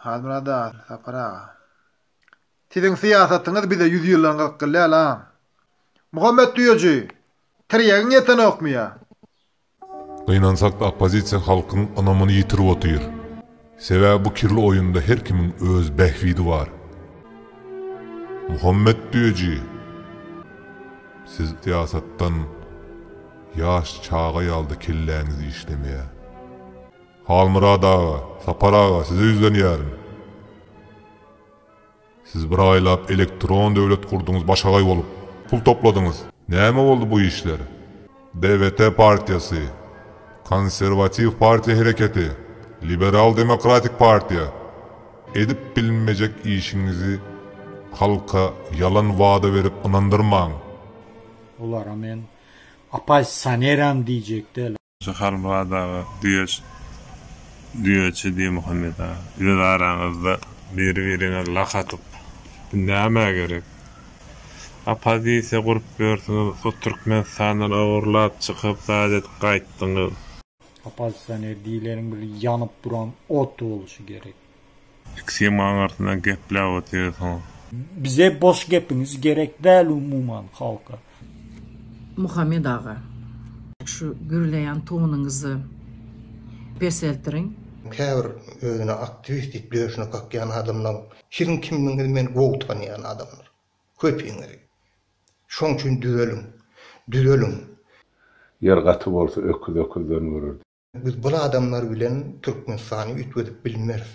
Halmyrat aga, Sapar aga. Siziň syýasatyňyz bize ýüz ýyldan gyzyk gelýär la. Muhammet düýeji, tirýegiň ýetenokmy ýa? Gynansak-da oppozisiýa halkyň ynamyny ýitirip otyr. Sebäbi bu kirli oýunda her kimiň öz bähbidi bar. Muhammet düýeji, siz syýasatdan. Ýaş çaga ýalyda kelläňiz işlemeýä. Halmyrat aga, Sapar aga size ýüzlenýärin. Siz bir aýlap elektron döwlet gurduňyz başagaý bolup. Pul topladyňyz. Näme boldy bu işler? DWT partiýasy, Konserwatiw partiýa hereketi, Liberal demokratik partiýa edip bilinmejek işiňizi halka ýalan wada berip ynandyrmaň. Olara men Apaý saneram diýjek däl. Şu Halmyrat aga düýeç düýeçi diý Muhammet aga öz araňyzda biri biriňe lak atyp bu nämä gerek opozisiýa gurup ýörsiňiz hut Türkmenistandan ogurlap çykyp zat edip gaýtdyňyz. Oppozisioner diýileniň bir ýanyp duran ot boluşy gerek. Ikisem aňyrsyna gepläp otyrsyňyz. Bize boş gepiňiz gerek däl umuman halka. Muhammet aga şu gürleýän tonuňyzy peseltiriň. Käbir özüne aktiwist diýip döşüne kakýan adamlaň siziň kimligiňizi men gowy tanýan adamlar. Köpiňizi. Şoň üçin düzeliň. Düzeliň. Ýer gaty bolsa öküz öküzden görerdi. Biz bul adamlar bilen Türkmenistany üýtgedip bilmeris.